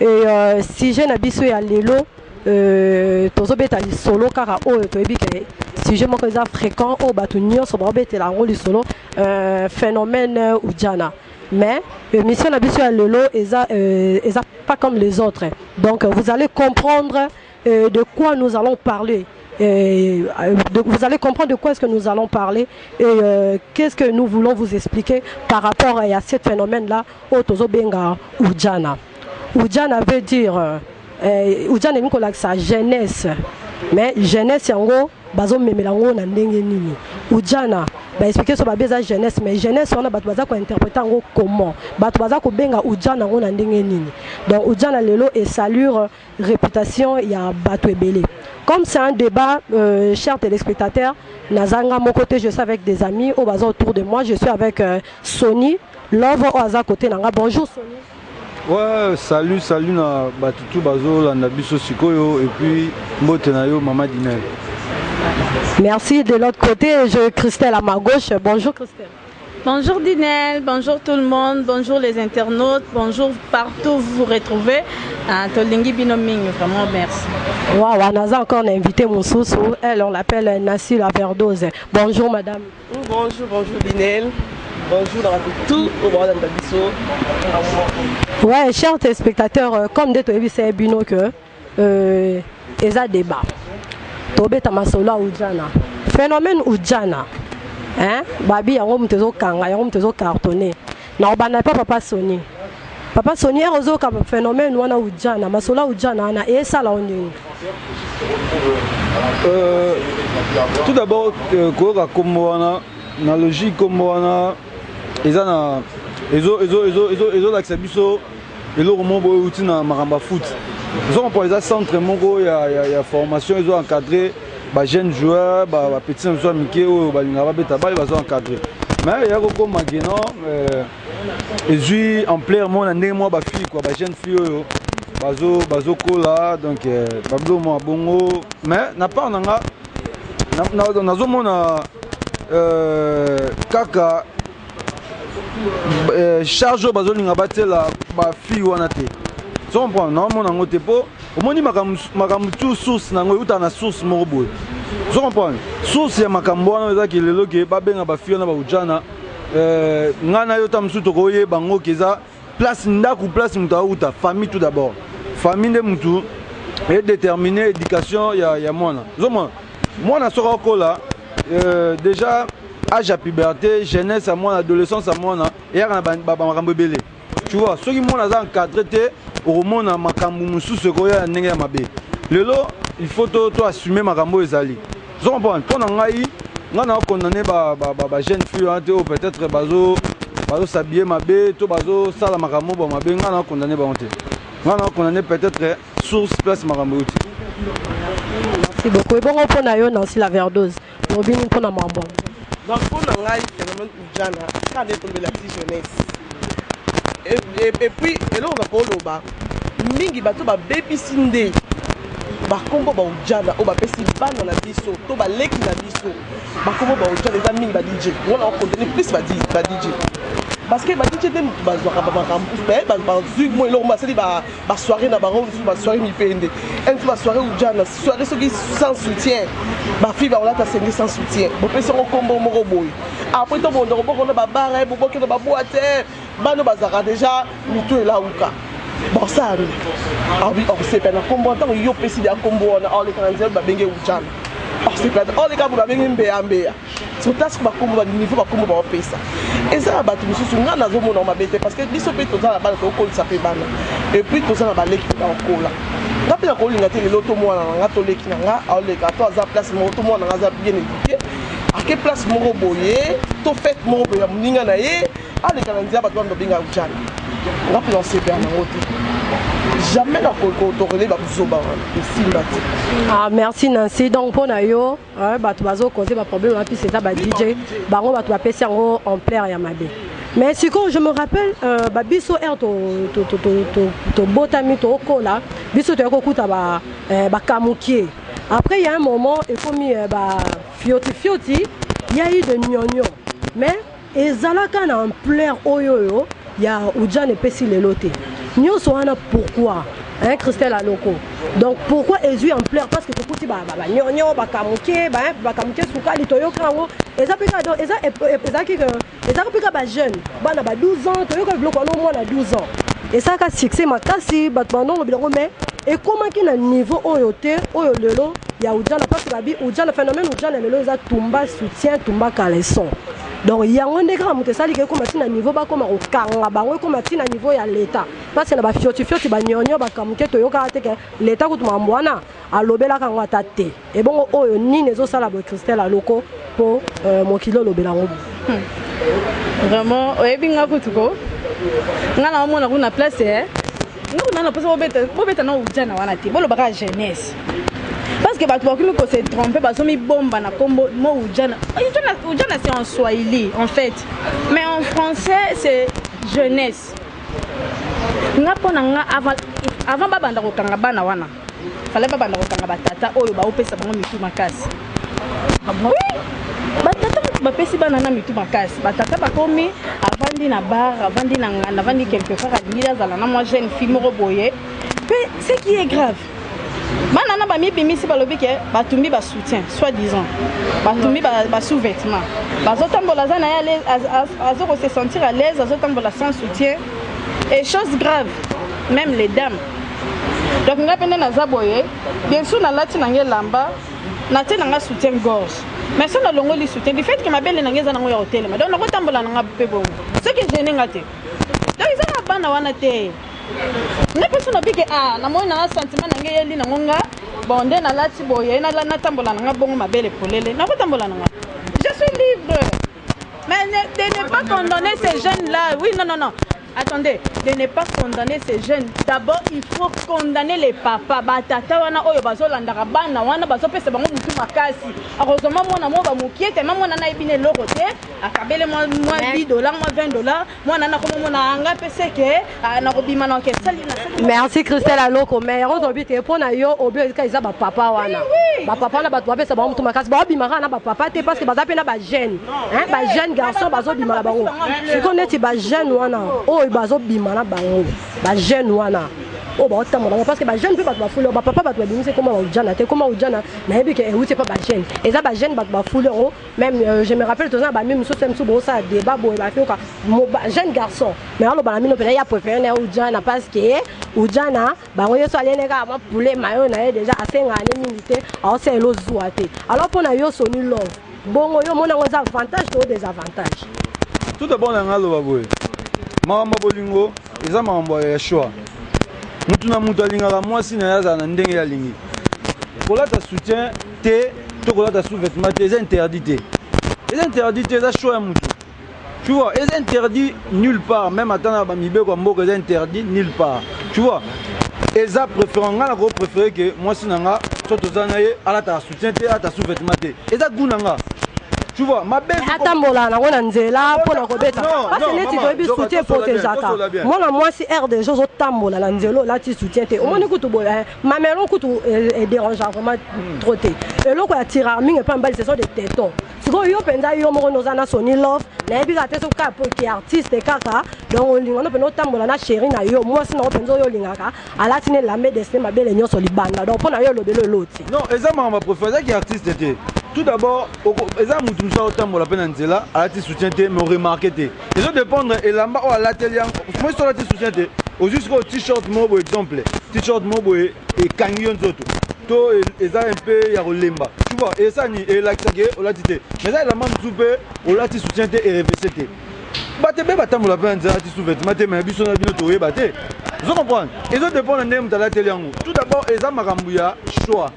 Et euh, sujet na biso ya lelo euh, tozobeta lisolo kaka oyo toyebi ke sujet moko eza fréquent oyo bato nyonso baobetela yango lisolo euh, phénomène euh, ujana mais émission na biso ya lelo eza, euh, eza pas comme les autres donc vous allez comprendre Euh, de quoi nous allons parler euh, de, vous allez comprendre de quoi est-ce que nous allons parler et euh, qu'est-ce que nous voulons vous expliquer par rapport à, à ce phénomène-là, Otozo Benga Oudjana. Oudjana veut dire, euh, euh Oudjana est sa jeunesse, mais jeunesse, en gros, bazo memela ngo na ndenge nini ujana ba expliquer so ba beza jeunesse mais jeunesse on a batu baza ko interpréter ngo comment batu baza ko benga ujana ngo na ndenge nini donc ujana lelo et salure reputation ya batu ebele comme c'est un debat euh, cher telespectateur naza nga moko te je suis avec des amis oyo baza autour de moi je suis avec euh, Sony Love oyo aza côté na nga bonjour Sony Ouais, salut, salut na batutu bazo landa biso sikoyo et puis mbote na yo maman Dinel. Merci de l'autre côté, je Christelle à ma gauche. Bonjour Christelle. Bonjour Dinel, bonjour tout le monde, bonjour les internautes, bonjour partout vous vous retrouvez. Ah, tolingi bino mingi vraiment merci. Waouh, on a encore un invité Moussoussou, elle on l'appelle Nassi la Verdose. Bonjour madame. Bonjour, bonjour Dinel. Bonjour dans tout au bord de Ouais, chers téléspectateurs, euh, comme des Toyebi, c'est Bino que Euh, eza deba tobeta masolo ya ujana phénomène ujana hein? babi yango moto ezokanga yango moto ezocartonne nakobanda epa papa soni papa soni ere ozoyoka phénomène wana ujana masolo ya ujana wana esala yo ndenge euh, tout d'abord euh, koyoka nkombo wana na logique nkombo wana eza na ezolakisa biso eloko moko boye euti na makambo ya foot ozo comprendre eza centre moko ya, ya, ya formation ezo encadrer ba jeunes joueurs ba, ba petits na biso ya mike oyo balingaka babeta bale bazo encadrer mais eya kokoma ke non euh, ezwi ampleur moko na ndenge moko bafille kua ba jeune fille oyo bazo bazokola donc euh, babilo mwa bongo mais na part na nga nazomona euh, kaka euh, charge oyo bazolinga batiela bafille wana te comprendre naomona yango te mpo omoni makambo tu source na yango eutaka na source moko boye ozo comprendre source ya makambo wana eza ke lelo ke babenga bafille wana baujana euh, ngai na yo ta mosusu tokoyeba yango ke eza Place ndaku place mutu awuta famille tout d'abord famille nde mutu e déterminer éducation ya ya mwana zomona mwana soki akola euh, déjà âge ya puberté jeunesse ya mwana adolescence ya mwana eyaka na makambo ebele tu vois soki mwana aza encadré te okomona makambo mosusu ekoya ya ndenge ya mabe lelo il faut to, to assume makambo oyo ezali Ozo comprendre? Mpo na ngai, ngai na condamner ba, ba, ba, ba jeunes filles wana te oyo peut-être bazo bazo s'habiller mabe to bazo sala makambo ba mabe, ngai na condamner bango te. Ngai na condamner peut-être source place makambo euti. Merci beaucoup. Ebongo mpo na yo Nancy la verdose, olobini mpo na makambo yango? Donc mpo na ngai phénomène Jana ka nde tombela ti jeunesse et puis eloko na koloba mingi bato babebisi nde bakombo baujana oyo bapesi bana na biso to baleki na biso bakombo baujana eza mingi badj wana okonteni plus badj parce que badj nde moto bazwaka bamakambo bazwi mo eloko basali ba ba soirée na bango mosusu ba soirée mipende un jour ba soirée ujana soirée soki sans soutien ba fille bakolata senge sans soutien bopesi yango nkombo moko boye après to bonda koboko na babara bobokenda baboite bano bazalaka déjà mitu elauka bosani awi okosepela na nkombo ntango yo opesi ya nkombo wana oleka na nzela babenge ujana okosepela oleka boye babenge mbeyambeya Surtout ba kombo ba niveau ba kombo ba opesa. Eza na batu mususu nga nazo mona mabe te parce que biso pe toza na bana to kolisa pe bana. Et puis toza na baleki ba kola. Nga pe na kolinga te lelo to mwana na nga to leki na nga aoleka to aza place moko to mwana na nga aza bien éduqué. Ake place moko boye to fête moko boye ya muninga na ye aleka na nzela bato bando benga ujana. Nga pe na sepela na ngo te. Jamais na ko ko to relais ba buzoba wana. Esimba te. Ah merci Nancy donc pona yo Hein, bato bazo cause ba problème wana plus eza ba DJ bango bato bapesi yango ampleur ya mabe mais sikoyo je me rappelle euh, ba biso ere tobotami tokola biso toyaki kokuta euh, bakamukie après ya un moment ekomi euh, ba fioti fioti ya eu de nionio mais Ezalaka na ampleur oyo oyo ya Udjana epesi lelo te. Nyoso wana pourquoi? Hein, Christelle Aloko. Donc pourquoi ezui ampleur parce que tokuti ba ba nyonyo ba kamuke ba hein, ba kamuke sukali toyoka yango eza peka donc eza eza ki eza peka ba jeunes bana ba 12 ans toyoka biloko wana mwana 12 ans. Esaka succès makasi bato banongo biloko mais ekomaki na niveau oyo te oyo lelo ya Udjana parce que babi Udjana phénomène Udjana lelo eza tumba soutien tumba caleçon. donc yango nde kaka moto esalika ekoma ntina niveau bakoma kokanga bango ekoma ntina niveau ya leta mpasi na bafiotifioti banyonyo bakamuke toyokaka te ke leta kutu mambo wana alobelaka yango ata te ebongo oyo nini ezosala boye christelle aloko mpo euh, mokili olobela yango hmm. vraiment oyebi nga kutu ko nga na omona kuna place eh? Noko nana pesa bobeta bobeta na ujana wana te boloba kaka jeunesse parce que bato bakomi ko se tromper bazomi bomba na kombo mo ujana ujana ujana c'est en swahili en fait mais en français c'est jeunesse nga mpo na nga avant avant babanda kokanga bana wana fale babanda kokanga batata oyo baopesa bango mitu makasi batata motu bapesi bana na mitu makasi batata bakomi avandi na bar avandi na nganda avandi quelque part alingi azala na mwa jeune fille moko boye mpe ce qui est grave bana na bamibimisi balobi ke batumbi basoutien soit disant batumbi basous vêtement bazotambola aza na ye azo ko se sentir à l'aise azotambola sans soutien et chose grave même les dames donc ngai mpe nde naza boye bien sur nalati na ngai elamba natie na ngai soutien gorge mais so nalongoli soutien du fait ke mabele na ngai eza nango ya kotelema donc nakotambola na ngai mpe bongo soki egene ngai te donc eza na bana wana te ngai mpe so nabike a ah, namoni na ngai sentiment na ngai eyeli nango nga bon nde nalati boye natambola na ngai bongo mabele polele nakotambola na ngai je suis libre mais ne, de ne pas condamner ces jeunes là oui non non non Attendez, de ne pas condamner ces jeunes. D'abord, il faut condamner les papas. Ba tata wana oyo bazo landaka bana wana bazo pesa bango mutu makasi. Akozwa mwa mwana mwa ba mukie te, mwa mwana na ebine loko te. Akabele mwa mwa 10 dollars, mwa 20 dollars. Mwana na komo mwana anga pese ke ah, na kobima na ke sali na sali. Merci Christelle Aloko, mais yango tolobi te mpo na yo obi ezika eza ba papa wana. Ba papa wana bato bapesa bango mutu makasi, baobimaka na ba papa te parce que baza mpe na ba jeune hein ba jeune garçon bazo bima na bango siko neti ba jeune wana oyo bazo bima na bango ba jeune wana oyo baotamba bango parce que ba jeune mpe bato bafuli ba papa bato babimisi ekoma baujana te ekoma ujana nayebi ke euti epa ba jeune eza ba jeune bato bafuli yango même euh, je me rappelle toza na bami mosusu te mosusu bosala débat boye bafioka jeune garçon mais aloba na mino mpena ya préféré na ya ujana parce que ujana bango yesu alele kaka mwa poulet mayo na ye deja asengaka ne mingi te aosalela ozuwa te alors mpo na yo soni love bongo yo omona yango eza avantage to desavantage tout d'abord na ngai aloba boye makambo ya bolingo eza makambo ya choix motu na motu alingaka mwasi na ye azala na ndenge alingi kolata soutien te to kolata sous-vêtement te eza interdit te eza interdit te eza choix ya motu Tu vois, eza interdit nulle part, même ata na ba mibeko ya mboka eza interdit nulle part. Tu vois, eza préférant nga na ko préférer que mwasi na nga so toza na ye alata soutien te, alata sous-vêtement te. Eza goût na nga. Tu vois, ma belle atambola nango na nzela mpo na kobeta parce que neti toyebi soutien eprotegeaka mwana mwasi aire des choses otambola na nzela olati soutien te omoni kutu boye eh, mamelon kutu eh, eh, dérangeaka vraiment hmm. trop te eloko ya tirarming epa mbali ce sont des tétons sikoyo yo mpenza yo moko noza na soni love nayebi kaka te soki kaka poki artiste kaka donc olinga no mpenza otambola na sheri na yo mwasi nango mpenza oyo olingaka alati na elambe destin mabele nyonso libanda donc mpo na yo elobeli oloti non eza makambo aprofo azaki artiste te tout d'abord eza motu mosusu aotambola mpe na nzela alati soutien te mais oremarke te ezo dépendre elamba oyo alateli yango mosi olati soutien te ozwi sikoyo t-shirt moko boye exemple t-shirt moko boye ekangi yo nzoto to eza un peu ya kolemba tu vois eza nini elakisa ke olati te mais eza elamba mosusu mpe olati soutien te erevese te bato ebe batambola mpe na nzela alati sous vêtement te mais biso na bino toyeba te ozo comprendre ezo dépendre ndenge moto alateli yango tout d'abord eza makambo ya choix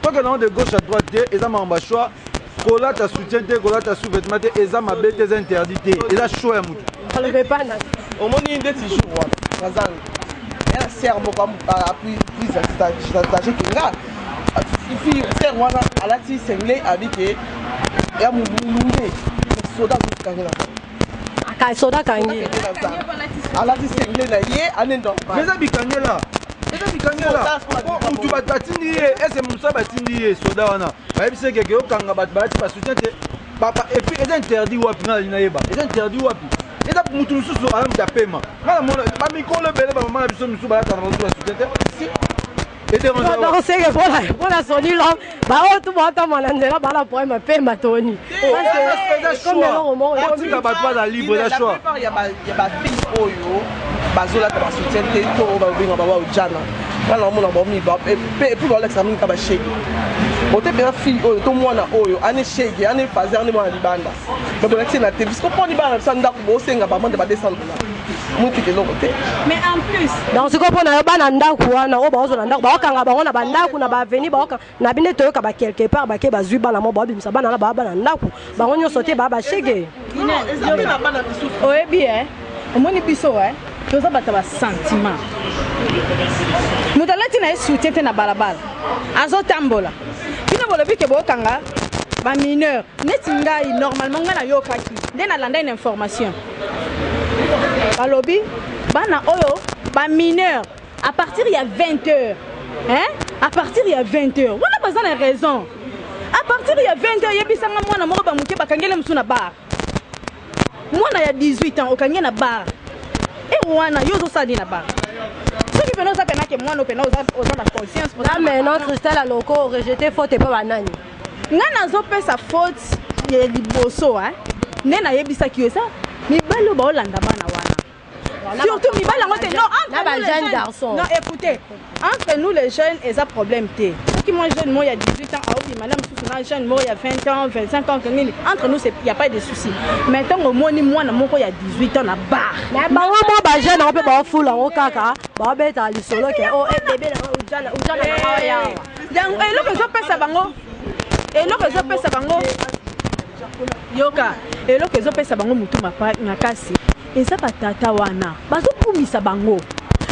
Toke nango de gauche à droite te eza makambo ya choix kolata soutien te kolata sous vêtement te eza mabe te eza interdit te eza choix ya motu omoni ndeti jour wana nazanga ya ser moko apui prise stage kenga ifi ser wana alati sengle abi ke ya molunge soda azokangela Ka soda kangi. Alati sengle na ye ane normal. Meza bikangela. Meza bikangela. Po mutu bat batindi ye, ese mutu batindi ye soda wana. Bayebi se keke okanga bat balati ba soutien te. Papa et puis eza interdit wapi na lina yeba. Eza interdit wapi? Eza mutu mususu ala mutu apema. Ngala mona ba mikolo ebele ba mama na biso mususu balata na biso ba soutien te. Si seke mpona soni lo baoyo tu baotama na nzela bala problème ya pema toni otika bato baza libre na choix ya bafille oyo bazolata basoutien te to oyo babenga bawa ojana nga naomona baomi epuis baolakisa mingi ka bashege ote mpenza fille oyo to mwana oyo ane shege ane fazer ane mwana libanda me bolakisi na te bisko mponi bana na biso ya ndako bosenga bamande ba 200 motuka eloko te mais en plus donc sikoyo mpo na yo bana ndako wana oyo baozwa na ndako baokanga bango na bandako na baaveni baoka na bino toyoka ba quelque part bake bazwi bana mo baobimisa bana na baa bana ndako bango nyonso te baa bashege oyebi e omoni biso e toza bato ya basentiment moto alati na ye soutien te na balabala azotambola bino bolobi ke bookanga bamineur neti ngai normalement ngai nayokaki nde nalandai na information balobi bana oyo ba mineur à partir ya 20 heures hein? à partir ya 20 heures wana baza na raison à partir ya 20 heures yebisanga mwana moko bamoke bakangele mosusu na bar mwana ya 18 ans okangi na bar e wana yo ozosala nini na bar soki pena oza penake mwana opena oza na conscience mais non christelle aloko orejete faute epa banani nga nazopesa faute ya liboso hein. nde nayebisaki yo eza mibali oyo baolanda bana wana surtout mibali yango te non entre nous les jeunes non écoutez entre nous les jeunes eza problème te soki moi jeune moi ya 18 ans aobima na mosusu na jeune moi ya 20 ans 25 ans nini entre nous il y a pas de souci mais ntango omoni mwana moko ya 18 ans na bar bango mwa bajeune yango mpe baofula yango kaka baobetaka lisolo ke o ebebe na ojala ojala na awa yango eloko ezopesa bango eloko ezopesa bango yoka eloko ezopesa bango motu makasi eza batata wana bazokumisa bango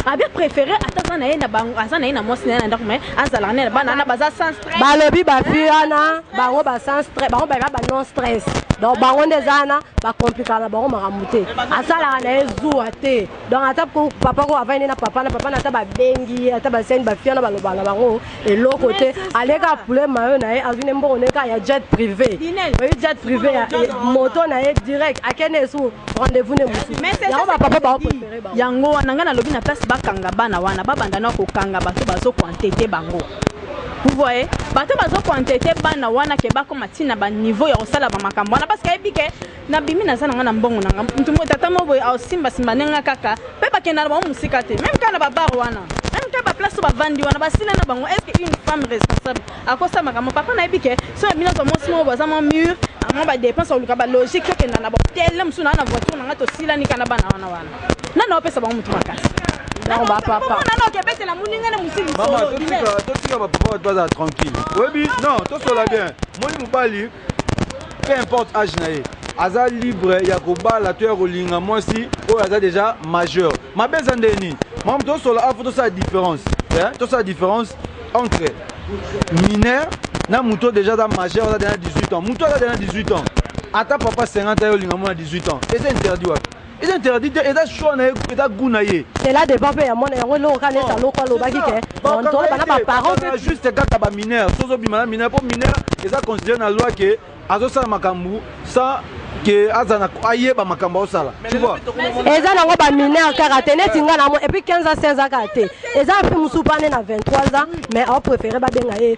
abia préféré ata aza na ye aza na ye na mwasi na ye na ndako mai azalaka na ye na bana wana baza sans stress balobi bafi wana bango ba sans stress bango baza ba non stress donc bango nde eza wana bakomplikaka na bango makambo te asalaka na ye zuwa te donc ata ko papa ko avandi nde na papa na papa na ata babengi ye ata basani bafia na baloba na bango eloko te aleka apule mayo na ye azwi nde mbongo nde kaka ya jet privé oyi jet privé ya moto na ye direct akende esu rendez-vous nde mosusu yango bapapa baoprefere bango yango wana ngai nalobi na place bakanga bana wana babanda na kokanga bato bazokoantete bango vous voyez bato bazokoantete bana wana ke bakoma ntina baniveau ya kosala bamakambo wana parce que ayebi ke nabimi naza na nga na mbongo na nga moto moko tata moko boye aosimbasimba nde nga kaka mpe bakenda na bango mosika te meme kaka na babar wana meme kaka baplace oyo bavandi wana basila na bango est ce que une femme responsable akosa makambo papa nayebi ke so ya bino azwa mwasi moko baza mwa mur mwa badepense oluka balogique tokenda na bahotel na mosusu naa na voiture na nga tosilani kana bana wana wana nana opesa bango motu makasi nao bapapa nana okebetela moninga na mosili totika bapapa bato bazala tranquille oyebi non tosola bien moni mobali peu importe age na ye aza libre ya kobala to ya kolinga mwasi oyo aza deja majeur mabe eza nde nini mamu tosola afo tosala différence eh? tosala différence entre mineur na moto oyo deja aza majeur aza deja 18 ans moto aza deja 18 ans ata papa 50 ayo olinga mwana 18 ans eza interdit wapi eza interdit te eza choix na ye eza goût na ye cela dépend mpe ya mwana yango eloko kaka neti aloko alobaki ke moto bana baparent mpe juste kaka bamineur so ozobima na mineur mpo mineur eza considere na loi ke azosala makambo sans ke azana ayeba makambo aosala eza nango bamineur kaka te neti nga namo epuis 15 ans 16 ans kaka te eza mpe mosusu mpa nde na 23 ans mais aopréféré babenga ye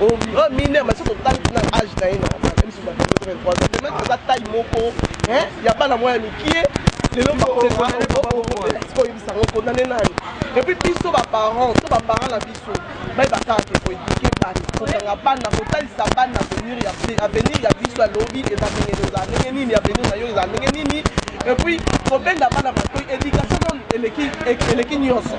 en mineur mais soki otali kuna age na ye na biso bato 23 ans de mètre aza taille moko ya bana mwa ya mikie lelo bakoyebisa yango kondane nani epuis biso baparent to baparent na biso bayeba kaka te koedike bana kokanga bana kotalisa bana avenir ya avenir ya biso ya lobi eza ndenge eza ndenge nini avenir na yo eza ndenge nini epuis kobenda bana batoi education eleki nyonso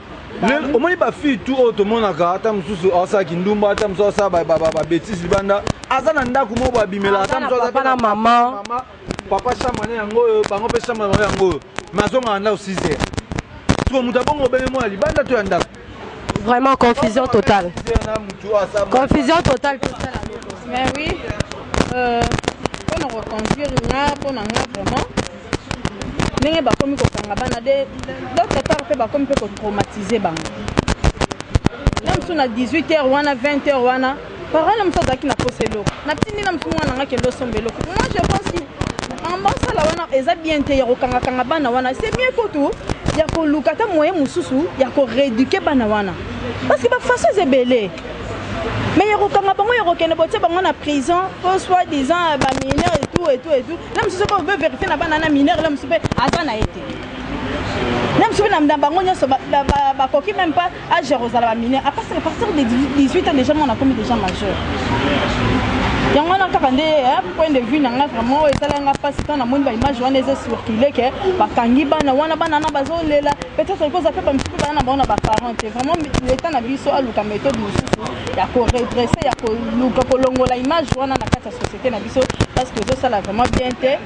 lelo omoni bafille tu oyo tomonaka ata mosusu asala kindumba ata mosusu asala babetise libanda aza na ndako moko babimela ata mosusu aza na mama papa chambre ne yango oyo bango mpe chambre yango yango oyo mais azongaka ndako 6 heures siko moto abongo obenge mwana libanda to ya ndako vraiment confusion totale confusion totale tosala mais oui euh, mpo na koconduire nga mpo na nga vraiment ndenge bakomi kokanga bana de d'autre part mpe bakomi mpe kotraumatize bango na mosusu na 18 heures wana 20 heures wana parole na mosusu azalaki na posa eloko natindi na mosusu mwana nanga kende osomba eloko moi je pense que makambo asala wana eza bien te ya kokangakanga bana wana c'est mieux kutu ya koluka ata moyen mosusu ya koreduke bana wana parce que bafaçons ebele mais ya kokanga bango ya kokende botie bango na prison po soit disant ba mineur et tout et tout et tout na mosusu soki obe verifie na bana na mineur na mosusu mpe aza na ye te na mosusu mpe na bango nyonso bakoki même pas age ya kozala ba mineur à partir de 18 ans déjà mwana akomi déjà majeur yango wana kaka nde point de vue na ngai vraiment oyo esala nga mpasi ntango namoni baimage wana eza circule ke bakangi bana wana bana na bazolela peut-être il faut ça fait comme si bana na bango na ba parents te vraiment l'état na biso aluka méthode mosusu ya ko redresser ya koluka kolongola image wana na kati ya société na biso parce que ezosala vraiment bien te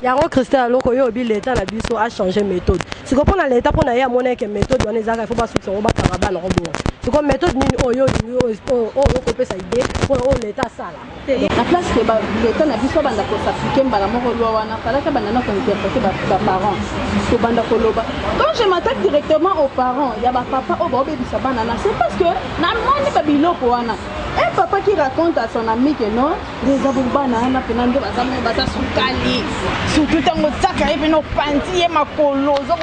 yango christian aloko yo obi l'état na biso a changer méthode siko mpo na l'état mpo na ye amona eke méthode wana ezalaka il faut basukisa yango bakanga bana yango bongo siko méthode nini oyo olingi oyo okopesa idée mpo na oyo l'état asala Donc na place que ba l'etat na biso abanda ko s'appliquer mbala moko loi wana, falaki abanda na ko interpreter ba, ba parents. Kobanda koloba. Quand je m'attaque directement aux parents ya ba papa oyo baobebisa bana na, c'est parce que namoni ba biloko wana. Un papa qui raconte à son ami que non, eza bo bana wana pena nde baza baza sukali. Surtout tango otiaka ye pena opanzi ye makolo, ozo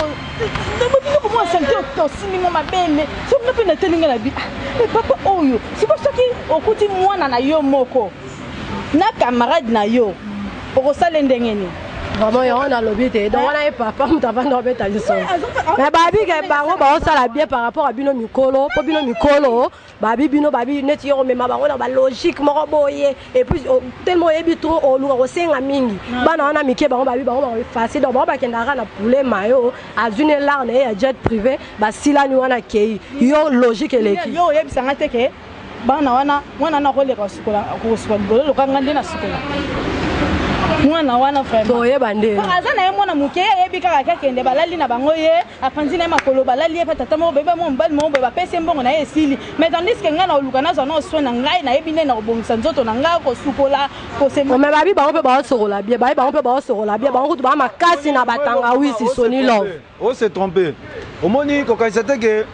ntango bino komona salite osimbi mwa mabele soki nga mpe natali nga na bi ah, eh, papa oyo siko soki okuti mwana na yo moko na camarade na yo okosala ndenge nini vraiment yango nalobi te donc wana ye papa moto avanda obeta lisolo mais babike bango baosala bien par rapport ya bino mikolo mpo bino mikolo babi bino babi neti yo komema bango na balogique moko boye epuis oh, telema oyebi trop oluka kosenga mingi ah. bana wana mike bango babi bango bakoefase donc bango bakendaka na poulet mayo azwi ne lar na ye ya jet privé basilani wana akei yo logique eleki yo oyebisanga te ke bana wana mwana wana akoleka kosukola libolo loka nga nde nasukola mwana wana vraiment toyeba nde aza na ye mwana moke ayebi kaka kakende balali na bango ye apanzi na ye makolo balali ye mpe tata moko boye bamwa mobali moko boye bapesi ye mbongo na ye esili mais tandis ke ngai nakoluka nazwa nao soin na ngai nayebi nde nakobongisa nzoto na ngai kosukola kosema me babi bango mpe baosokola bie babi bango mpe baosokola bie bango kutu baa makasi na batangawisi soni love o se trompe omoni kokanisa te ke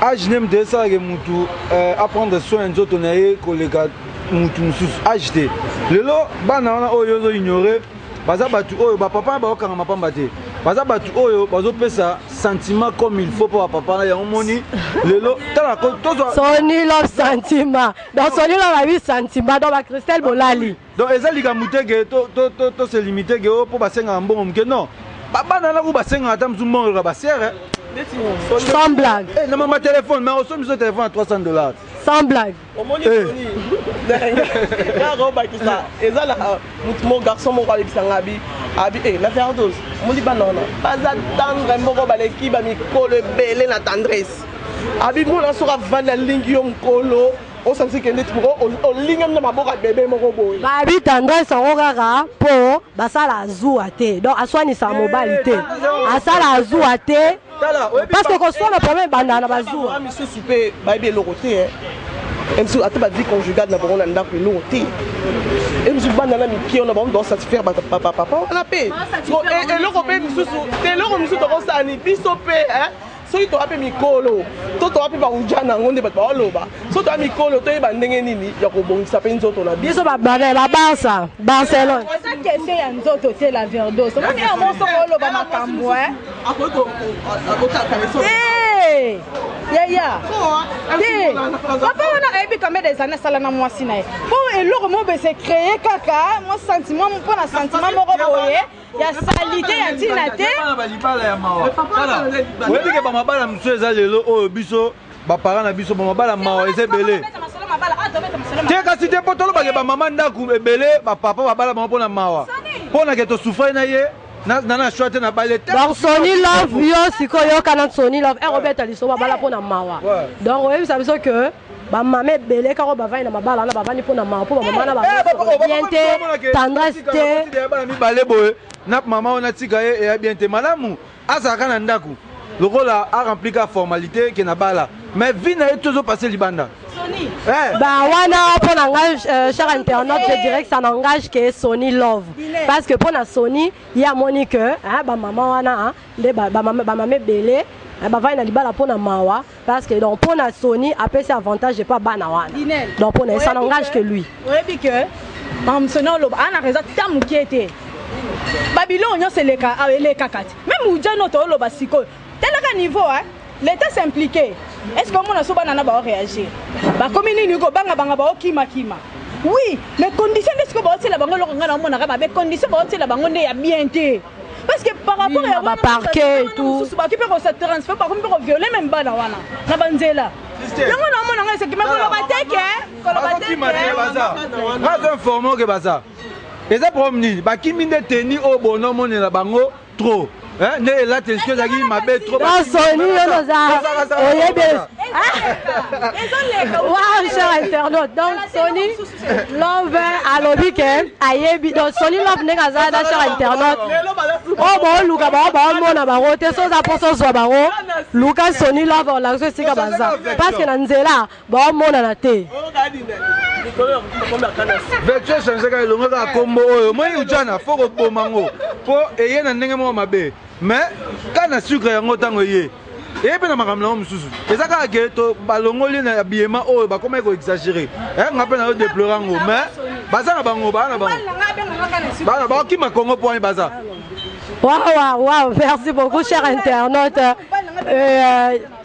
age nde moto esalake motu euh, aprendre soin ya nzoto na ye koleka motu mosusu age te lelo bana wana oyo ozo ignore baza batu oyo ba papa ba okanga mapamba te baza batu oyo bazo pesa sentiment comme il faut pour papa na yango moni lelo tala ko tozwa soni lo sentiment donc soni lo ba bi sentiment donc ba Christelle bolali donc eza likambo te ke to to to to se limiter ke o oh, po basenga mbongo mke non babana na ko basenga ata mzu mbongo ka basere sans blague eh na mama téléphone mais osomi so téléphone à 300 dollars sans blague omoni eh. soni kaka obakisa eza na motu mo garçon moko abebisa nga abi abi e na verdos omoni bana wana baza tendre moko baleki bamikolo ebele na tendresse abi mona soki avandi alingi yo mokolo osanisi kende ti moko olingami na maboko ya bebe moko boye babi tendresse yango kaka mpo basala azuwa te donc aswanisa mobali te eh, asala azuwa te parce que koswana problème ebandaka na bazuwa misusu mpe bayebi eloko te eh. misusu ata bavie conjugale na bango na ndako eloko te e misusu bana na mike wana bango baosatisfaire bapapa wana mpe eh, eloko mpe misusu te eloko misusu tokosani biso mpe eh. soki toya mpe mikolo to toya mpe bauja na yango nde bato baoloba soki toya mikolo toyeba ndenge nini ya kobongisa mpe nzoto na biso babane babarsa barcelone eza question ya nzoto te la verdos omoni yango soko oloba makambo Hey! yaya te papa wana ayebi kameda ezali nasala na mwasi na ye mpo eloko moko bese créé kaka mwa sentiment mpo na sentiment moko boye ya salite ya ntina te oyebi ke bamabala mosusu eza lelo oyo biso bapara na biso bamabala mawa eza ebele te kasi te mpo tolobake bamama ndako ebele bapapa babala bango mpo na mawa mpo na ke tosufrai na ye donc soni love yo sikoyo yoka na soni love ero obeta liso babala mpo na mawa donc oyebisa biso que bamama ebele kaka bavandi na mabala wana bavandi mpo na mawa mpo bamama na babien eh, te tendresse te mibale boye na mama wana tika ye eya bien te malamu azalaka na ndako lokola arempli ka formalité ke na bala mais vi na ye tozo passe libanda Bah wana pour langage euh, cher internaute je dirais que ça n'engage que Sony Love parce que pour la Sony il y a Monique hein ah, bah maman wana hein nde bah bah maman bah maman belé eh, bavandi na libala mpo na mawa parce que donc mpo na soni apesi avantage epa bana wana donc mpo na ye ça n'engage que lui oyebi que mamsoni oloba ana reza ta moke te babiloko nyonso eleka awa elekaka te meme ujani oyo tooloba sikoyo Talaka niveau hein. L'Etat s'impliquer. Est-ce que omona so bana na ba réagir? Ba komi nini ko banga banga ba okima kima. Oui, mais condition de ce que ba otela bango loko ngana omona ka ba be condition ba otela bango nde ya bien te. Parce que par rapport oui, ya ba parquet tout. Ba kipe ko se transférer ba komi ko violer même bana wana na banzela. Yango na omona ngai seki mais ko loba te ke ko loba te ke baza. Nga zo informer ke baza. Eza problème nini? Ba kimi nde teni oyo bono monela bango trop eh, nde elateli soki ezalaki mabe trosoni yo noza oyebi wacha internaute donc soni love alobi ke ayebi donc soni love ndenge aza na char internaute oyo oh, baoluka bango baomona bango te so oza mposa ozwa bango luka soni love olakisa esika baza parce que na nzela baomonana te vertu echange kaka elongo kaka kombo oyo omoni ujana fo koboma yango mpo eye na ndenge moko mabe mais ka na sucre yango ntango eye eye mpe na makambo nango mosusu eza kaka ke to balongoli na habillement oyo bakomaki koexagere eh, nga mpe nayo deplore yango mais baza na bango baa na bango bana bakima kongo mpo wani baza wawa waw merci beaucoup cher internaute euh,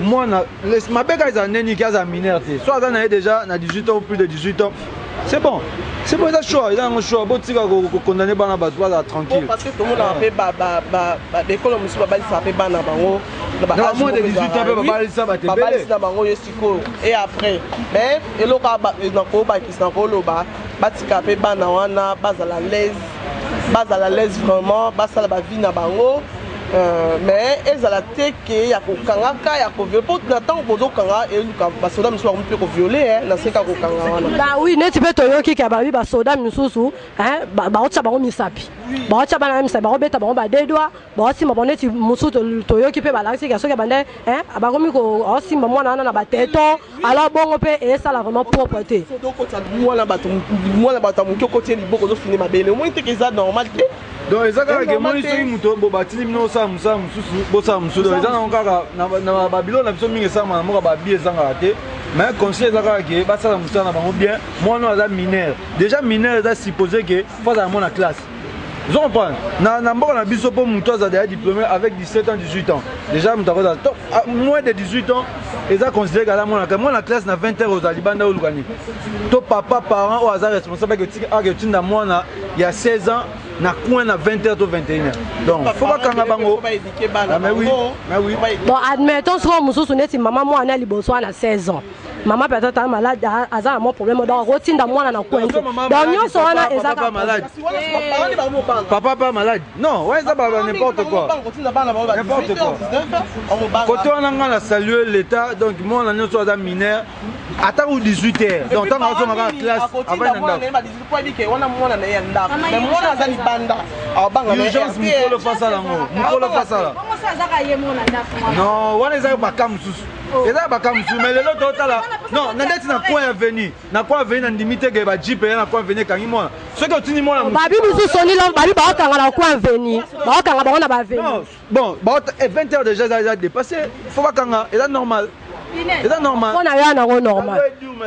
mwana mabe kaka ezala ndenge nini ke azala mineur te so aza na ye déjà na 18 ans ou plus de 18 ans c'est bon c'est bon eza choix eza yango choix botika kokondane bana bato bazala tranquille parce que tomonaka mpe baekolo mosusu babalisaka mpe bana bango moins de 18 ans mpe babalisa bato ebebabalisi na bango yo sikoyo et après mais eloko nakobakisa nakoloba batika mpe bana wana bazala laise bazala laise vraiment basala bavie na bango Euh, mais ezala te ke ya kokanga ka ya koviole mpo na ntango bozokanga eluka basoda misusu bakomi mpe koviole eh, na seka kokanga wana ba oui neti mpe toyoki ke babi basoda misusu eh, baotya bango misapi baotya bana misapi bakobeta bango badedwa baosimba bango neti mosusu toyoki mpe balakisi ke soki abanda eh, bakomi kosimba mwana wana na bateto alors bongo pe esala vraiment propre te okotisa mwana bato mwana bato ya moke okoti ye liboko ozofini mabele omoni teke eza normal te donc eza kaka ke moi soki moto bobatindi bino osala mosala mosusu bosala mosusu donc eza nango kaka na babilo na biso mingi esalama na mboka babi ezangaka te mais conseil eza kaka ke basala mosala na bango bien mwana oyo aza mineur déjà mineur eza suppose ke fo azala mwana classe ozo comprendre na, na mboka na biso mpo moto aza deja diplômé avec 17 ans 18 ans déjà moto akozala to ah, moins de 18 ans eza considéré kala mwana kai mwana classe na 20 heures ozala libanda oluka nini to papa parent oyo aza responsable ake otinda mwana ya 16 ans na coin na 20 heures to 21 heures donc faut bakanga bango ah, bon admettons soko mosusu neti mama mwana liboso wana 16 ans mama mpe azata malade aza na mwa problème donc akotinda mwana na kwenze donc nyonso wana ezaka malade papa pa malade non wana eza baba n'importe quoi n'importe quoi kote wana ngai na salue l'état donc mwana nyonso aza mineur ata ou 18 heures donc ntango azongaka na classe avai nandakourgence mokolo fasala yango mokolo fasala non wana ezaka bakam mosusu eza ya baka mosusu mai lelo totala non na ndeti na coin aveni na coin aveni na ndimi te ke bajipe ya na coin aveni ekangi mwana soki otindi mwana babi mosusu solilo babi baokanga na coin aveni baokanga bango na baaveni bon 20 eh, heures déjà eza eza dépassé fo bakanga eza normal eza normal mpo na yo yanango normal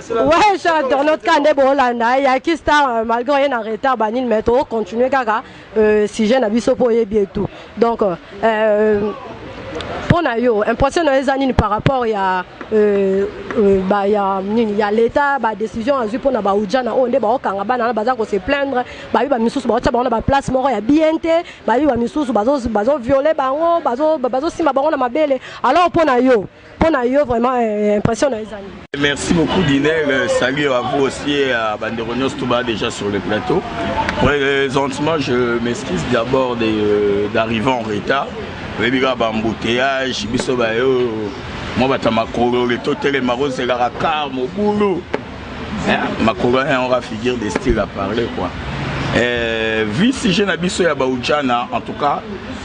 ouais cher internaute ka nde boolanda ye yaki star euh, malgré oye na retard banini mais tokocontinue kaka euh, sujet na biso mpo oyebi etu donc euh, mpo na yo impression na yo eza nini par rapport ya euh, euh, ba, ya nini ya leta badécision azwi mpo na baujana oyo nde baokanga bana wana baza kose plaindre babi bamisusu baotya bango na baplace moko ya bien te babi bamisusu bazoviole bango bazosimba bango na mabele alors mpo na yo pona yo vraiment eh, impression na ezali merci beaucoup dinel euh, salut à vous aussi et à bandeko nyonso toba déjà sur le plateau présentement je m'excuse d'abord euh, d'arriver en retard oyebi kaka bambouteillage biso bayo mwa bata makolole totelema kozelaka kar mobulu eh, makolo wana yango ka figure de style à parler quoi eh, vu sujet na biso ya baujana en tout cas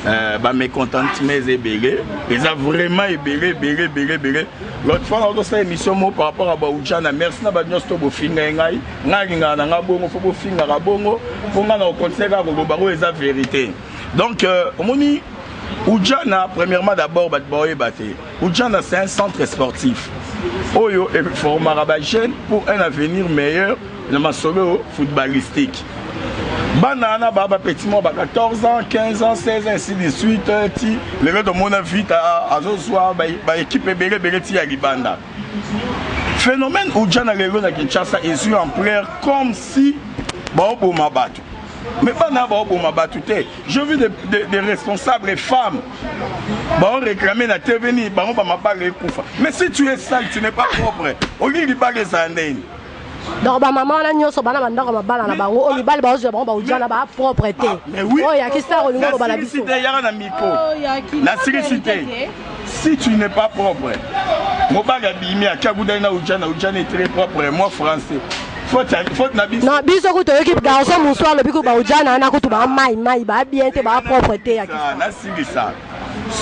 eh, bamécontentement eza ebele eza vraiment ebele ebele ebele ebele l'autre fois nakosala émission moko par rapport ya baujana merci na bato nyonso to bofinga ye ngai ngai alingaka na ngai bongo fo bofingaka bongo mpo ngai na kokontinue kaka koloba oyo eza vérité donc euh, omoni ujana premièrement d'abord bato baoyeba te Ujana c'est un centre sportif oyo eformaka ba jeunes pour un avenir meilleur na masolo footballistique bana wana baa bapeti mwa ba 14 ans 15 ans 16 ans ainsi de suite ti lelo tomona vite azozwa baekipe ebele ebele ti ya libanda phénomène ujana lelo na kinshasa ezwi ampleur comme si baoboma bato mais bana baoboma bato te je vu des de, de responsables femmes Bon, réclamer la TV ni bango ba mabale ekufa. Mais si tu es sale, tu n'es pas propre. Au lieu de baler ça ndeni. donc bamama wana nyonso bana bandako mabala na bango oyo mibali baozwa bango baudia na ba propre te oyo yakisa olingo oloba na biso yaka na miko nasilisi te si tu n'es pas propre mobali abimi akia kudai na ujana ujana est très propre moi français na biso kutu oyoki garçon mosusu alobi kutu baojana wana kutu baa mai mai baa bien te baa propre te ya nasilisa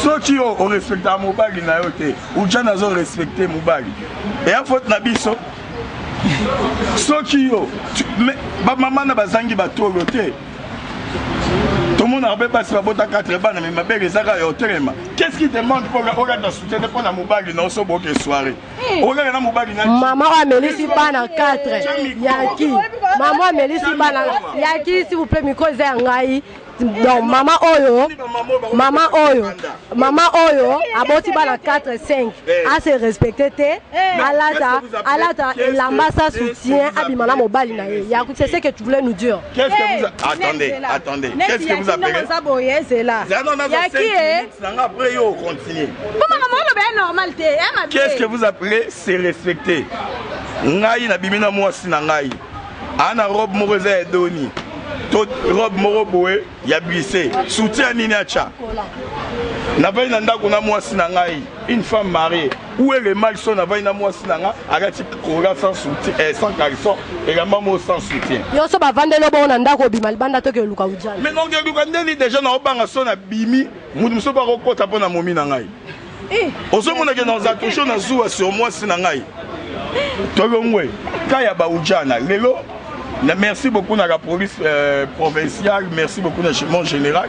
soki yo orespectaka mobali na yo te ujana azorespecte mobali eya faute na biso soki yo bamama na bazangi batolo te tomonaka mpe basi babota 4 bana me mabele ezaka ya otelema qu'est ce qui te manque mpo okata soutene mpo na mobali na oso boke soirée olala na mobali na mama oyo amelisi bana 4 yaki mama oyo amelisi bana yaki s'il vous plaît micro eza ya ngai donc mama oyo mama oyo mama oyo aboti bana 4 5 ase respecte te alata alata elamba sa soutien abima na mobali na ye yaku c'est ce que tu voulais nous dire qu'est-ce que vous attendez attendez qu'est-ce que vous appelez Nanga après yo continue. Bon maman on lobe normal te hein ma Qu'est-ce que vous appelez se respecter? Ngai na bimina mwasi na ngai. Ana robe moko eza ya doni. To robe moko boye ya bise. Soutien nini acha? Na bai na ndako na mwasi na ngai, une femme mariée. Où est le mal son avandi na mwasi na nga alati kola sans soutien eh, sans caleçon elamba moko sans soutien yo so bavandeli obongo na ndako obima libanda toke oluka ujana mais donc eluka ndeli déjà na obanga son abimi mutu mosusu mpe akokota mpo na momi na ngai eh. ozomonake na oza toujours na zuwa sur mwasi na ngai tolongwe ka ya baujana lelo merci beaucoup na la police euh, provinciale merci beaucoup na mon général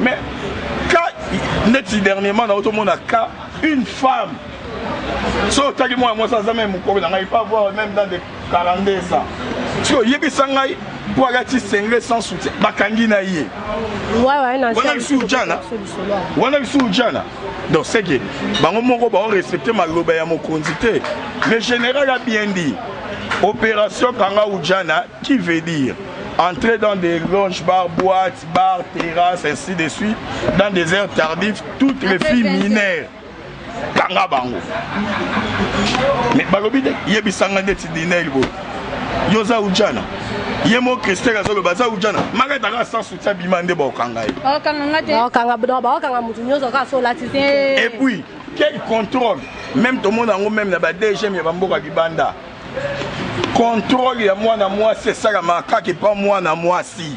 Mais cas neti dernièrement na otomona cas une femme so otaki mwana mwasi aza meme mokolo na ngai pas voir même dans de 42 ans soki oyebisa ngai mpo alati sengre sans soutien bakangi na ye wana lisusu jana wana lisusu jana donc seke bango moko baorespecte maloba ya mokonzi te le général a bien dit opération kanga ujana qui veut dire entrer dans des loges bar boite bar terrasse ainsi de suite dans des heures tardives toutes les filles mineures kanga bango mais balobi te yebisanga ndeti dinel boye yo oza ujana ye mo christel azoloba aza ujana makata kaka sans soutien bima nde bakokanga ye bakokanga motu nyonso kaka so olati eh. et puis quel contrôle même tomona yango même na ba dgm ya bamboka libanda contrôle ya mwana mwasi esalamaka kaka epa mwana mwasi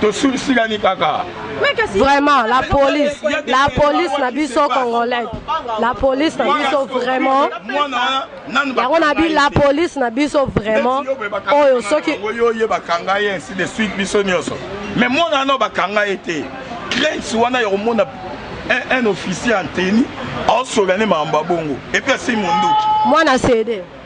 tosulisilani kaka vraiment la police la police na biso congolais la police na biso vraiment yango na bi la police na biso vraiment oyo soki oyo oye bakanga ye ainsi de suite biso nyonso mais mwana wana bakanga ye te crainte wana ya komona un, un officier en tenue aosolane makambo ya bongo epuis asi monduki mwana sede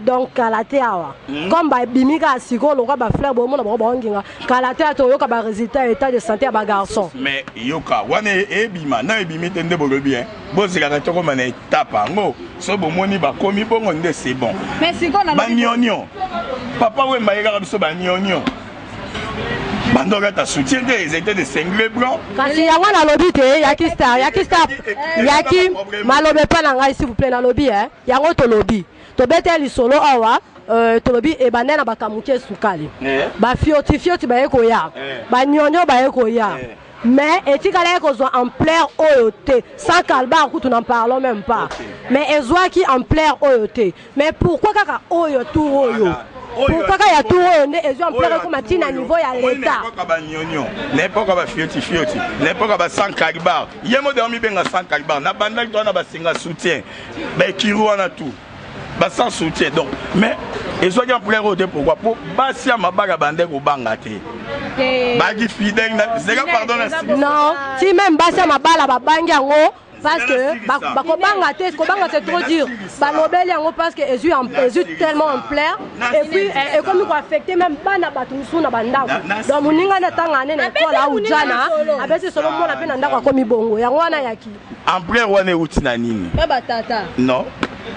donc kala te awa hmm. comme babimi kaka sikoyo lokola bafleur bomona bango baonginga kala te ata oyoka baresultat ya état de santé ya bagarçon mais yoka wana e, ebima na ebimi te nde bolobi e bozelaka tokoma na etape yango so bomoni bakomi bongo nde c'est bon banionio papa wemba yekaka biso banionio bandoki ata soutien te ils étaient de cingle blanc kasi yango nalobi te yaki star yaki star yaki maloba epai na ngai s'il vous plaît nalobi e yango tolobi tobete lisolo awa euh, tolobi ebanda na bakamuke sukali eh. bafiotifioti baye koya eh. banyonyo baye koya eh. mais etikala ekozwa ampleur oyo te sans kalbar kutu n'en parlons même pas okay. mais ezwaki ampleur oyo te mais pourquoi kaka oyo tour oyo voilà. pourquoi kaka ya tour oyo nde ezwi ampleur ekoma ti na niveau ya leta naepoka banyonio naepoka bafiotifioti naepoka ba sans calibar ye mode amibenga sans calibar nabandaki toa na basinga soutien ba ekiri wana tout ba sans soutien donc mais ezwaki ampleur oyo te pourquoi mpo basi ya mabaka bande kobanga te baki fidèle zeka pardon non ti meme basi ya mabala babangi yango parce que bakobanga te kobanga c'est trop dur balobeli yango parce que ezwi ezwi tellement ampleur et puis eh, ekomi koaffecte même bana bato mosusu na bandako donc moninga nde atanga ane na ekole aujana abesi solo mona mpe na ndako akomi bongo yango wana yaki Ampleur wana euti na nini? Ba ba tata. Non.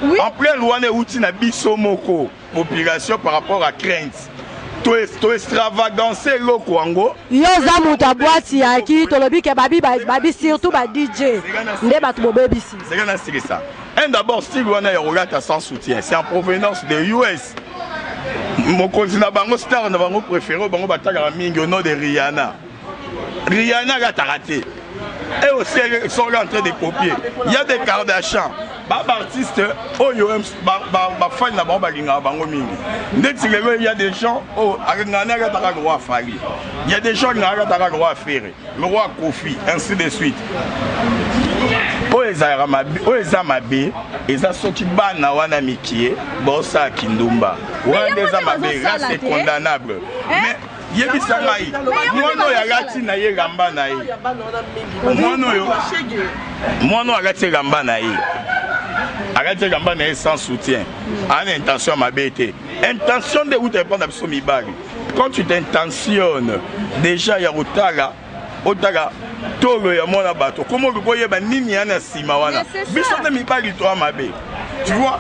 Oui. Ampleur wana euti na biso moko population par rapport à crainte. to extravagance eloko yango yo oza moto ya bwati yaki tolobi ke babi babi surtout ba dj nde bato bobebisi seka nasilisa un d'abord style wana ya kolata sans soutien c'est en provenance de us mokonzi na bango star na bango préféré bango batalaka mingi au nom de rihanna Rihanna alataka te. Et aussi, ils sont en train de copier. Il y a des Kardashians. ba baartiste oyo bafani na bango balingaka bango mingi ndeti lelo ya des gens oyo alingaka nayaka taka loi afali ya des gens alingaka taka loi afere loi akofi ainsi de suite oyo ezalaka mabe oyo eza mabe eza soki bana wana mikie bosala kindumba wana nde eza mabe là c'est condamnable eh? mais yebisa ngai mwana oyo alati na ye lamba na ye mwana oyo mwana oyo alati elamba na ye alati elamba na ye sans soutien aa na intention ya mabe te intention nde euta epai na biso mibali quand tu t'intentionne déjà ya kotala otala tolo ya mwana bato koma okoki koyeba nini ya na nsima wana biso nde mibali toa mabe tu vois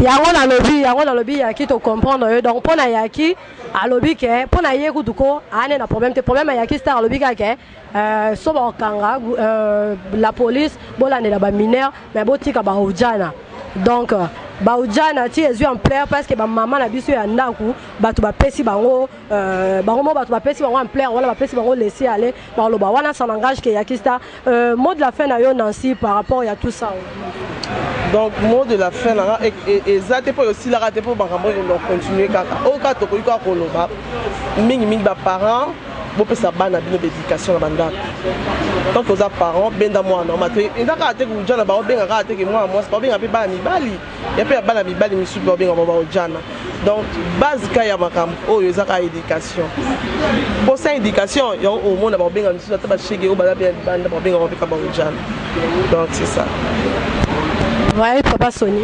yango nalobi yango nalobi yaki tocomprendre yo donc mpo na yaki Alobi ke pona ye kutu ko ane na problème te problème ya Yaki Star alobi kaka ke euh, so bakanga euh, la police bolandela ba mineurs mais botika ba ujana donc euh, ba ujana ti ezwi ampleur parce que ba mama na biso ya ndaku bato bapesi bango euh, bango mo bato bapesi bango ampleur wana bapesi bango laisser aller Maloba wana ça n'engage que Yakista. Euh, mot de la fin na yo Nancy par rapport ya tout ça. donc mot de la fin nanga eza te mpo esilaka te mpo makambo oyo donc continue kaka oyo kaka tokoki kaka koloba mingimingi baparent bopesa bana bino baéducation na bandako tant toza parent benda mwana oma te eza kaka te kuja na baobenga kaka te ke mwana mwasi baobenga mpe bana mibali ya pe ya bana mibali misusu ba benga ba ojana donc base ka ya makambo oyo eza ka education po sans education ya omona ba benga misusu ata ba shege oyo bala pe banda ba benga ba peka ba ojana donc c'est ça ouais papa Sony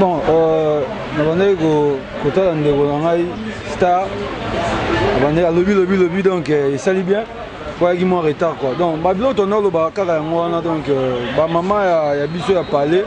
bon euh nabandaki kotala ndeko na ngai star abandaki alobi lobi lobi donc esali bien Koyaki mwa retard quoi. Donc ba biloko tondo loba kaka yango wana donc euh, ba mama ya, ya biso ya palais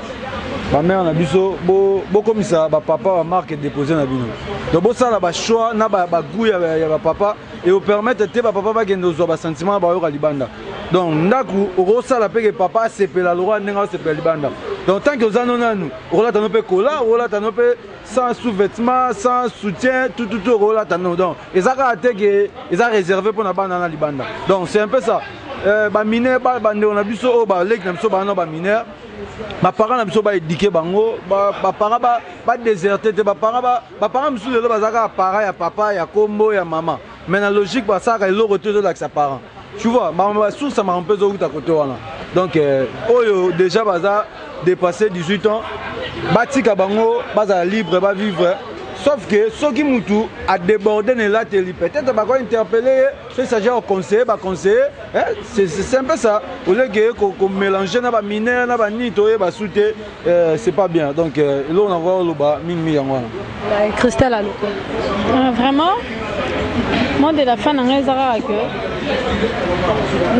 ba mère na biso bo bokomisa ba papa ba marque déposer na bino. Donc bo sala ba choix na ba, ba goût ya, ya ba papa et au permettre te ba papa ba kende ozwa ba sentiment na ba yoka libanda. Donc ndaku okosala pe ke papa asepela lokola ndenge asepela libanda. Donc tant que ozano nanu okolata no pe kola, okolata no pe sans sous-vêtement sans soutien tout tout tout okolata non donc eza kaka te ke eza réservé mpona bana na libanda donc c'est un peu ça euh, bamine bandeko na biso oyo baleki na biso bana na bamineur baparent na biso baédike bango baparent badéserte te baparent mosusu lelo baza kaka parent ya papa ya kombo ya mama mais na logique basalaka eloko te ezolakisa parent tu vois ba source ya makambo mpe ezowuta kote wana donc euh, oyo déjà baza dépassé 18 ans batika bango bazala libre bavivre sauf que soki mutu adéborde na elateli peut-être bako interpelle ye soki s'agit ya conseiller baconseille c'est un peu ça oleke komélange na baminere na banini toyeba su te Euh, c'est pas bien donc euh, eloko na koya oloba mingi mingi yango wana cristal aloko euh, vraiment mot de la fin na ngai eza kaka ke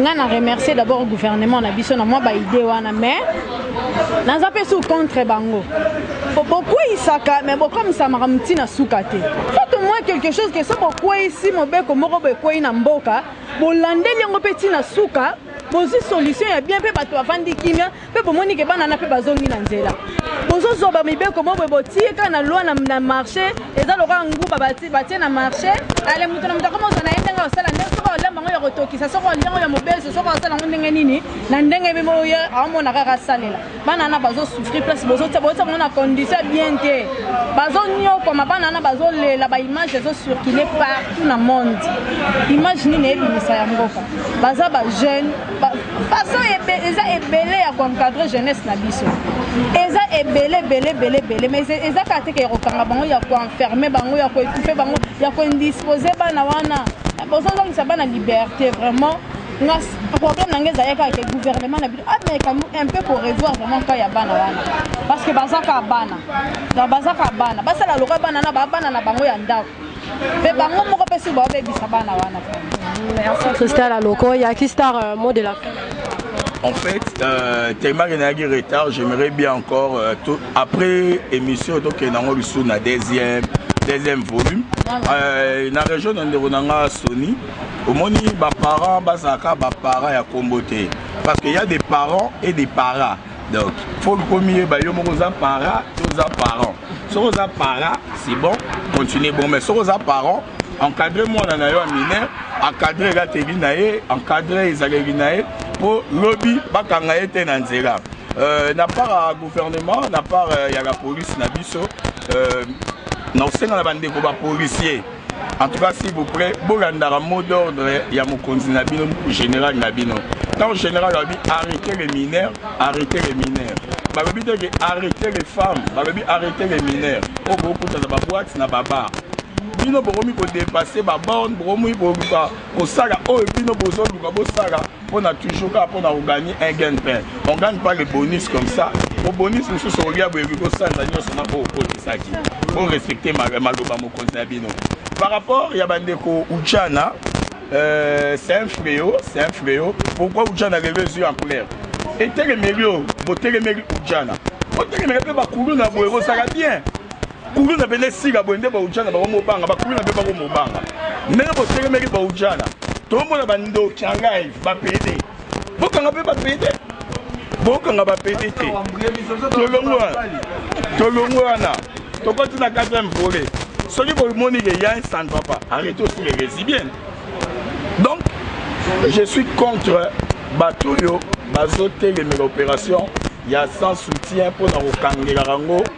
ngai na remercier d'abord gouvernement na biso na mwa baide wana mais naza mpe su contre bango bokweyisaka me bokomisa makambo ntina suka te faut au moins quelque chose ke so bokweyisi mobeko moko boekweyi na mboka bolandeli yango mpe ntina suka bozwi solution ya bien mpe bato bavandi kimia mpe bomoni ke bana na mpe bazongi na nzela bozozwa bamibeko moko boye botie kaka na loi na marché eza lokola nguba batie na marché ale moto na moto akoma ozwa na ye ndenge osala ndenge soki olemba yango ya kotokisa soki olia yango ya mobeso soki osala yango ndenge nini na ndenge mpe oye aomona kaka asalela bana wana bazosouffrir place bozotia bozotia bango na condition bien te bazonyokwama bana wana bazolela baimage ezocircule partout na monde image nini eyebimisa ya mboka baza bajeune façon eza ebele ya koencadre jeunesse na biso eza ebele ebele ebele ebele mais eza kaka teke ya kokanga bango ya koenferme bango ya koetufe bango ya koindispose bana wana bozozongisa bana liberté vraiment nga problème na ngai ezali kaka ke gouvernement na bino ameka ah, un peu korevoir vraiment cas ya bana wana parce que baza kaka bana baza kaka bana basala lokola bana na bana na bango ya ndako Mais bango moko pe sur baobebisa bana wana Merci Christelle Aloko, Yaki Star, euh, mot de la fin. En fait, euh, tellement que nayaki retard, j'aimerais bien encore, euh, tout, après émission, donc nango lisusu na deuxième, deuxième volume. Euh, na région na ndeko na nga Sony, omoni ba parents bazalaka ba parents ya kombo te parce que y a des parents et des paras. donc faut komiyeba yo moko oza para to oza parent soki oza para c'est bon continue bon mais soki oza parent encadre mwana na yo ya mineur encadre elateli na ye encadre ezaleli na ye mpo lobi bakanga ye te na nzela euh, na part ya gouvernement na part euh, ya la police na biso euh, na kosenga na bandeko bapolisier En tout cas, s'il vous plaît, bolandaka mot d'ordre ya mokonzi na bino, général na bino. Tant général a dit arrêtez les mineurs, arrêtez les mineurs. Balobi te que arrêtez les femmes, balobi arrêtez les mineurs. Oyo bokuta na ba boîtes na ba bars. Bino bokomi ko dépasser ba bornes, bokomi koluka kosala oyo bino bozoluka bosala. mpo na toujours kaka mpo na kogani un gagne pain on gagne pas le bonus comme ça bobonisi mosusu okolia boyebi kosanza nyonso na oyo okotisaki borespecte maloba mokonzi na bino par rapport ya bandeko uchana euh, c'est un fléau c'est un fléau pourquoi uchana lelo ezwi en couleur etelemeli oyo botelemeli uchana botelemela mpe bakulu na boye bosaka bien Kulu na bende sika boye nde baujana bango mobanga bakulu na be bango mobanga ndenge botelemeli baujana tomona bandoki ya ngai bapede bokanga mpe bapede bokanga bapede te tolongwa tolongwa wana tokoti na 4 volet soki bomoni ke ya ça ne va pas arrête aussi les résibiennes donc je suis contre bato oyo bazotelemela opération ya sans soutien mpo na kokangelaka yango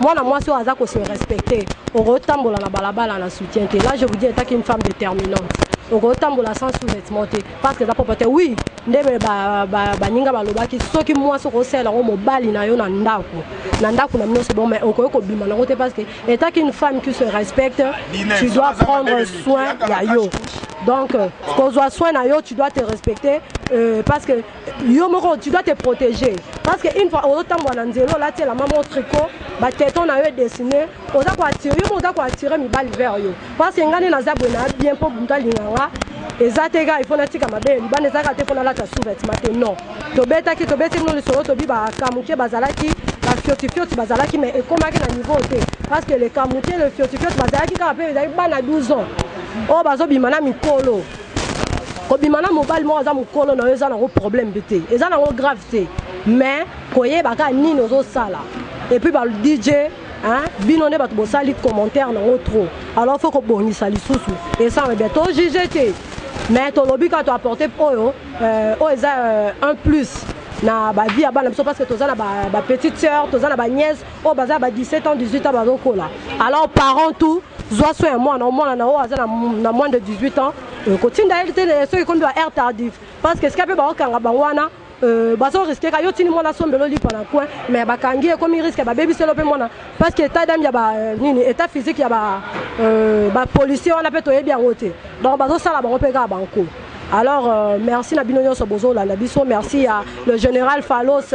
Mwana mwasi oyo aza ko se respecter, okoki tambola na balabala na soutien te. Là je vous dis etant qu'une femme determinante, okoki tambola sans sous-vetements te parce que eza propre te. Oui, nde ba ba baninga balobaki soki mwasi okoki salela ngo mobali na yo na ndako, na ndako na bino c'est bon, mais okoki kobima na ngo te parce que etant qu'une femme qui se respecte, tu dois prendre soin ya yo. Donc, kozwa soin na yo, tu dois te respecter euh, parce que yo moko tu dois te protéger parce que une fois ozotambola na nzela olati elamba moko tricot bateton na yo edessine oza koattire yo moko oza koattire mibali vers yo parce que ngai nde naza boye na bien mpo moto alinga nga eza te kaka ifo natika mabe ya libanda eza kaka te mpo nalata sous-vêtement te non tobetaki tobetaki no lisolo tobi bakamuke bazalaki bafiotifioti bazalaki mais ekomaki na niveau te parce que le kamuke le fiotifioti bazalaki kaka mpe ezalaki bana 12 ans oyo bazobima na mikolo kobima na mobali moko aza mokolo na yo eza nango problème mpe te eza nango grave te mais koyeba kaka nini ozosala epuis ba dj bino nde bato bosali commentaire nango trop alors faut kobongisa lisusu esanga bien to juge te mais tolobi kaka toapporte oyo euh, oyo eza euh, un plus na bavie ya bana biso parce que toza na bapetite ba sœur toza na baniese oyo baza ya ba 17 ans 18 ans bazokola alors parent tout zwa soin ya mwana omwana na oyo aza na moins de 18 ans euh, kotinda ye te soki ekomi ba air tardif parce que esika mpe baokanga bango wana Euh, bazo risque ka yo tini mwana sombelo lipa na coin mais bakangi ekomi risque babebiselo mpe mwana parce que état d'âme ya ba euh, nini état physique ya ba euh, ba policier wana mpe toyebi yango te donc bazosala bango mpe kaka banko alors euh, merci na bino nyonso bozolanda biso merci ya le général phalos